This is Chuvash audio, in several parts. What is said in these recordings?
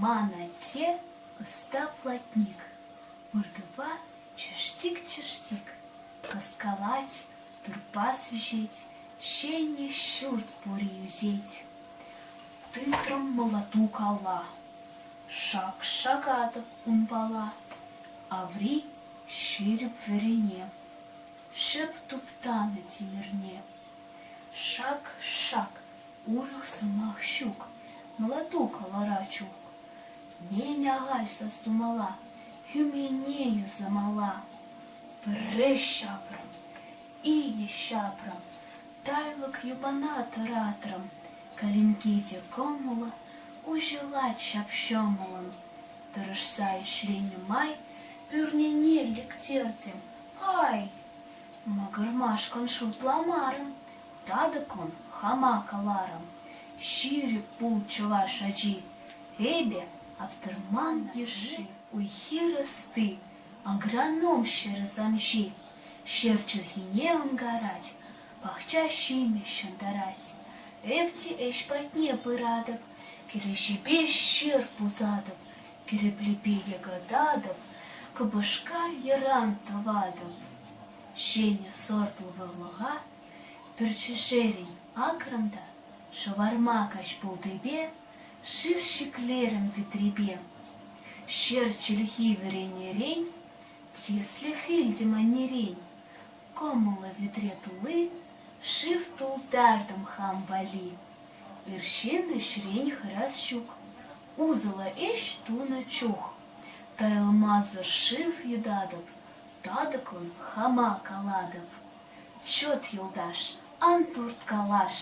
Ман атте ӑста платник, выртупа чӑштик-чӑштик кӑскалать, турпас вӗҫет, ҫенӗк ҫурт пури ӳсет. Тытрӑм мӑлӑту кала, шак-шакатӑп унпала, аври ҫирӗп вӗрене. Шӑп туптанӑ тимӗрне. Шак-шак, урӑх сӑмах ҫук, мӑлатук вара чук. Нен ахаль сас тумалла, хӳмене юсамалла. Пӗрре ҫапрӑм, икӗ ҫапрӑм, тайлӑк йӑпана тӑратрӑм, калинкке те кӑмӑллӑ, уҫӑлать ҫап-ҫӑмӑллӑн. Тӑрӑшса ӗҫленӗ май пӳрнене лектертӗм, Ай, макӑрмашкӑн шутламарӑм, татӑклӑн хама каларӑм. Ҫирӗп пул чӑваш ачи, эпӗ Аптӑрман йышши, уй-хир ӑсти, агроном ҫӗр ӑсамҫи. Ҫӗр чӗлхине ӑнкарать, пахча ҫимӗҫ ҫӑнтарать. Эп те ӗҫ патне пыратӑп, кӗреҫепе ҫыр пусатӑп, Кӗреплепе йӑкӑтатӑп, кӑпӑшка йӑран тӑватӑп. Ҫӗнӗ сортлӑ вӑрлӑха пӗр чӗшерӗн акрӑм та шӑварма каҫ пултипе шыв ҫӗклерӗм витрепе. Ҫӗр чӗлхи вӗренерен, тислӗх илтӗм аннерен. Кӑмӑллӑ витре тулли шыв тултартӑм хам валли. Ир ҫын ӗҫрен хӑрас ҫук, Усӑллӑ ӗҫ тунӑ чух тайӑлмасӑр шыв йӑтатӑп, татӑклӑн хама калатӑп. Чӑт, юлташ, ан турткалаш,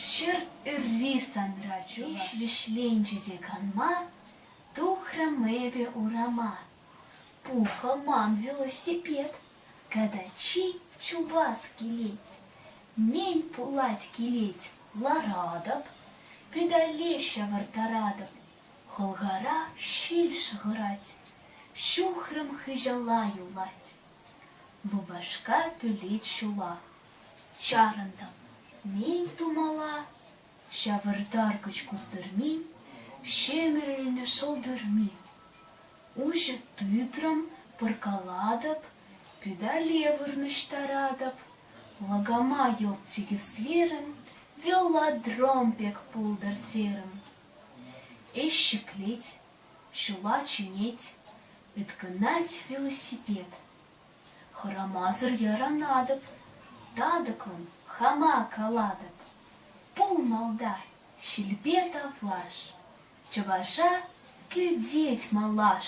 ҫӗр ырри санра чух вӗҫленчӗ те канма тухрӑм эпӗ урама. Пухӑ ман велосипед, Когда чи чупас килет, мень пулать килет ларатӑп, педале ҫавӑрттаратӑп, хӑлхара ҫил шӑхӑрать, ҫухрӑм хыҫала юлать. Лупашка пӳлет ҫула, чарӑнтӑм мень тумала Ҫавӑртаркӑч кустӑрмин, ҫемӗрӗлнӗ шӑлтӑрмин. Уҫӑ тытрӑм, пӑркалатӑп, педале вырнаҫтаратӑп, лакама йӑлт сикӗслерӗм, велодром пек пултӑртрӗм. Ӗҫ ҫӗклет, ҫула чӗнет, ыткӑнать велосипед. Хӑрамасӑр яранатӑп, татӑклӑн хама калатӑп. Пул малта, ҫилпе тавлаш, чӑваша кӗтет малаш.